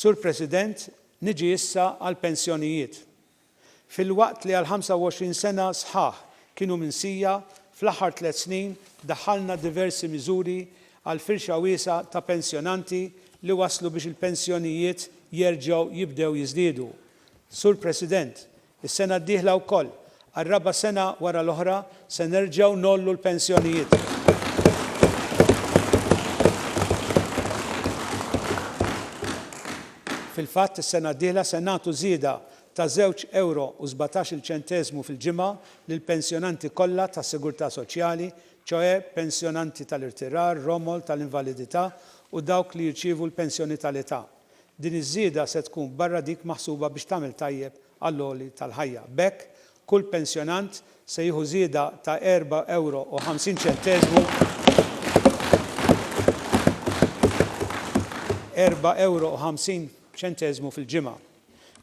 Sur President, niġi issa għall-pensjonijiet. Filwaqt li għal 25 sena sħaħ kienu minsija, fl-aħħar tliet snin daħħalna diversi miżuri għal firxa wiesgħa ta' pensjonanti li wasslu biex il-pensjonijiet jerġgħu jibdew jiżdiedu. Sur President, Is-sena d-dieħla wkoll, għar-raba' sena wara l-oħra, se nerġgħu ngħollu l-pensjonijiet. Fil-fatt, is-sena d-dieħla se nagħtu żieda ta' żewġ ewro u sbatax-il ċenteżmu fil-ġimgħa lill-pensjonanti kollha tas-Sigurtà Soċjali, ċoe, pensjonanti tal-irtirar, romol, tal-invalidità u dawk li jirċievu l-pensjoni tal-età. Din iż-żieda se tkun barra dik maħsuba biex tagħmel tajjeb għall-għoli tal-ħajja. B'hekk, kull pensjonant se jieħu żieda ta' erba' ewro u ħamsin ċenteżmu, erba' ewro u ħamsin ċenteżmu fil-ġimgħa.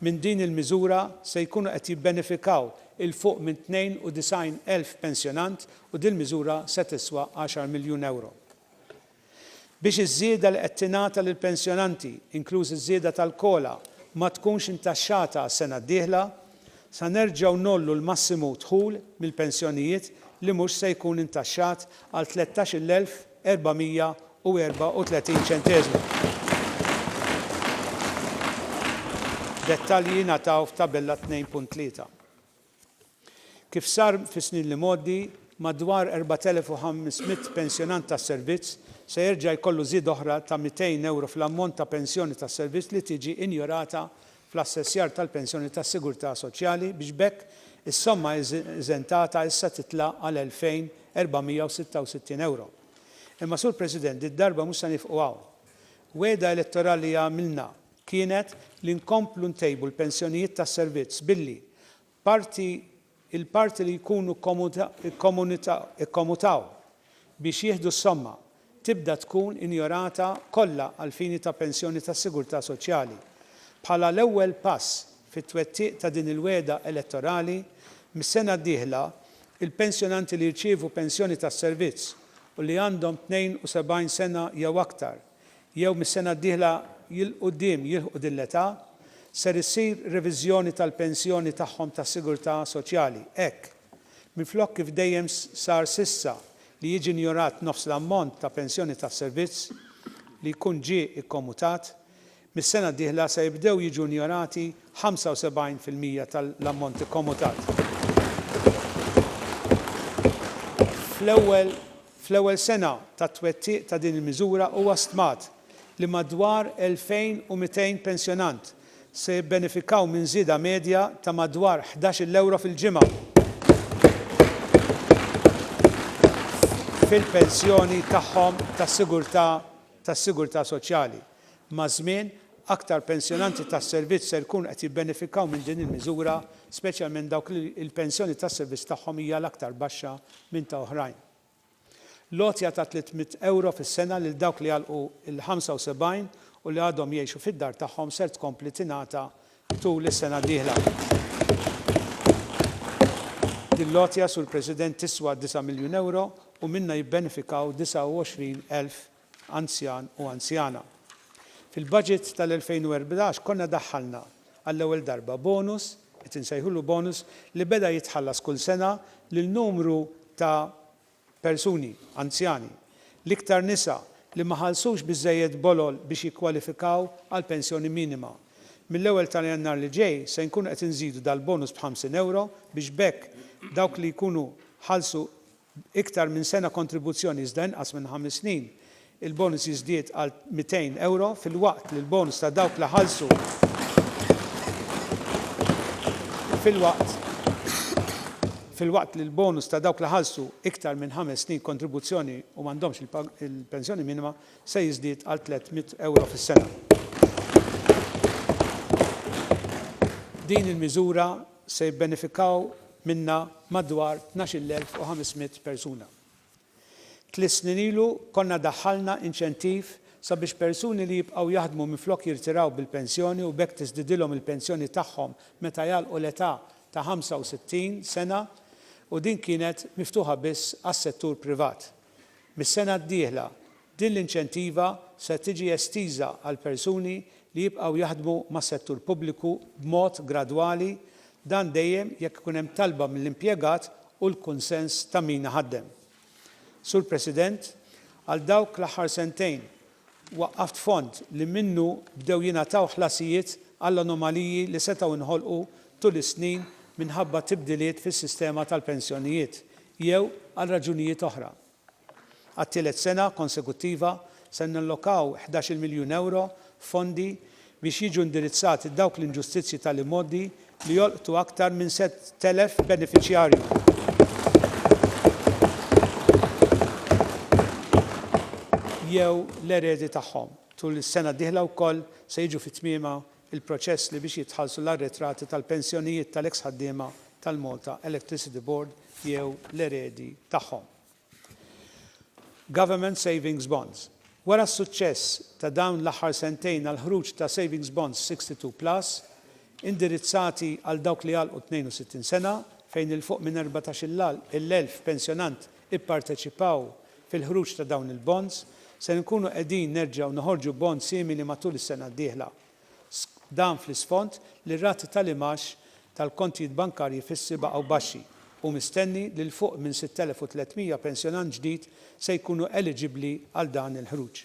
Minn din il-miżura se jkunu qed jibbenefikaw 'il fuq minn 92 elf pensjonant u dil-miżura se tiswa għaxar miljun ewro. Biex iż-żieda li qed tingħata lill-pensjonanti, inklużi ż-żieda tal-COLA, ma tkunx intaxxata għas-sena d-dieħla, sa nerġgħu ngħollu l-massimu dħul mill-pensjonijiet li mhux se jkun intaxxat għal 13,434 ċenteżmu. Dettalji jingħataw f'Tabella 2.3. Kif sar fis-snin li mgħoddi, madwar 4,500 pensjonant tas-servizz se jerġa' jkollu żieda oħra ta' 200 ewro fl-ammont ta' pensjoni tas-servizz li tiġi injorata fl-assessjar tal-pensjoni tas-sigurtà soċjali biex b'hekk is-somma eżentata issa titla' għal 2,466 ewro. Imma Sur President, did-darba mhux se nieqfu hawn. Wegħda elettorali għamilna. kienet li nkomplu ntejbu l-pensjonijiet tas-servizz billi, parti, il-parti li jkunu kkomutaw biex jieħdu s-somma, tibda tkun injorata kollha għall-fini ta' pensjoni tas-sigurtà soċjali. Bħala l-ewwel pass fit-twettiq ta' din il-wegħda elettorali, mis-sena d-dieħla, il-pensjonanti li jirċievu pensjoni tas-servizz u li għandhom 72 sena jew aktar, jew mis-sena d-dieħla 'il quddiem jilħqu din l-età, ser issir reviżjoni tal-pensjoni tagħhom tas-sigurtà soċjali, hekk, minflok kif dejjem sar s'issa li jiġi injorat nofs l-ammont ta' pensjoni tas-servizz li jkun ġie kkomutat, Mis-sena d-dieħla se jibdew jiġu injorati 75 fil-mija tal-ammont ikkomutat. Fl-ewwel fl-ewwel sena tat-twettiq ta' din il-miżura huwa stmat li madwar 2,200 pensjonant se jibbenefikaw minn żieda medja ta' madwar ħdax-il ewro fil-ġimgħa fil-pensjoni tagħhom tas-sigurtà tas-sigurtà soċjali. Maż-żmien, aktar pensjonanti tas-servizz ser ikunu qed jibbenefikaw minn din il-miżura, speċjalment dawk li l-pensjoni tas-servizz tagħhom hija l-aktar baxxa minn ta' oħrajn. L-għotja ta' tliet mitt ewro fis-sena lil dawk li għalqu l-75 u li għadhom jgħixu fid-dar tagħhom ser tkompli tingħata tul is-sena d-dieħla. Din l-għotja, Sur President, tiswa disa' miljun ewro u minnha jibbenefikaw 29 elf anzjan u anzjana. Fil-baġit tal-2014 konna daħħalna għall-ewwel darba bonus, qed insejħulu bonus, li beda jitħallas kull sena lil numru ta' persuni anzjani, l-iktar nisa, li ma ħallsux biżżejjed bolol biex jikkwalifikaw għall-pensjoni minima. Mill-ewwel ta' Jannar li ġej se nkunu qed inżidu dal-bonus b' 50 ewro biex b'hekk dawk li jkunu ħallsu B'iktar minn sena kontribuzzjoni iżda inqas minn ħames snin, il-bonus jiżdied għal €200, filwaqt li l-bonus ta' dawk li ħallsu filwaqt filwaqt li l-bonus ta' dawk li ħallsu iktar minn ħames snin kontribuzzjoni u m'għandhomx il-pensjoni minima se jiżdied għal €300 fis-sena. Din il-miżura se jibbenefikaw minnha madwar 12,500 persuna. Tliet snin ilu konna daħħalna inċentiv sabiex persuni li jibqgħu jaħdmu minflok jirtiraw bil-pensjoni u b'hekk tiżdidilhom il-pensjoni tagħhom meta jagħlqu l-età ta' 65 sena u din kienet miftuħa biss għas-settur privat. Mis-sena d-dieħla Din l-inċentiva se tiġi estiża għal persuni li jibqgħu jaħdmu mas-settur pubbliku b'mod gradwali, dan dejjem jekk ikun hemm talba mill-impjegat u l-kunsens ta' min iħaddem. Sur President, għal dawk l-aħħar sentejn waqqaft fond li minnu bdew jingħataw ħlasijiet għall-anomaliji li setgħu nħolqu tul is-snin minħabba tibdiliet fis-sistema tal-pensjonijiet jew għal raġunijiet oħra. Għat-tielet sena konsekuttiva se nallokaw ħdax-il miljun ewro f'fondi biex jiġu indirizzati dawk l-inġustizzji tal-imgħoddi li jolqtu aktar minn sett elef benefiċjarju jew l-eredi tagħhom. Tul is-sena d-dieħla wkoll se jiġu fi tmiemha il-proċess li biex jitħallsu l-arretrati tal-pensjonijiet tal-eks ħaddiema tal-Malta Electricity Board jew l-eredi tagħhom. Government Savings Bonds Wara s-suċċess ta' dawn l-aħħar sentejn għall-ħruġ ta' Savings Bonds 62 Plus, indirizzati għal dawk li għalqu 62 sena, fejn 'il fuq minn erbatax-il elf pensjonant ipparteċipaw fil-ħruġ ta' dawn il-bonds, ser inkunu qegħdin nerġgħu noħorġu bond simili matul is-sena d-dieħla. Dan fl-isfond li r-rati tal-imgħax tal-kontijiet bankarji fissi baqgħu baxxi u mistenni li 'l fuq minn 6,300 pensjonant ġdid se jkunu eliġibbli għal dan il-ħruġ.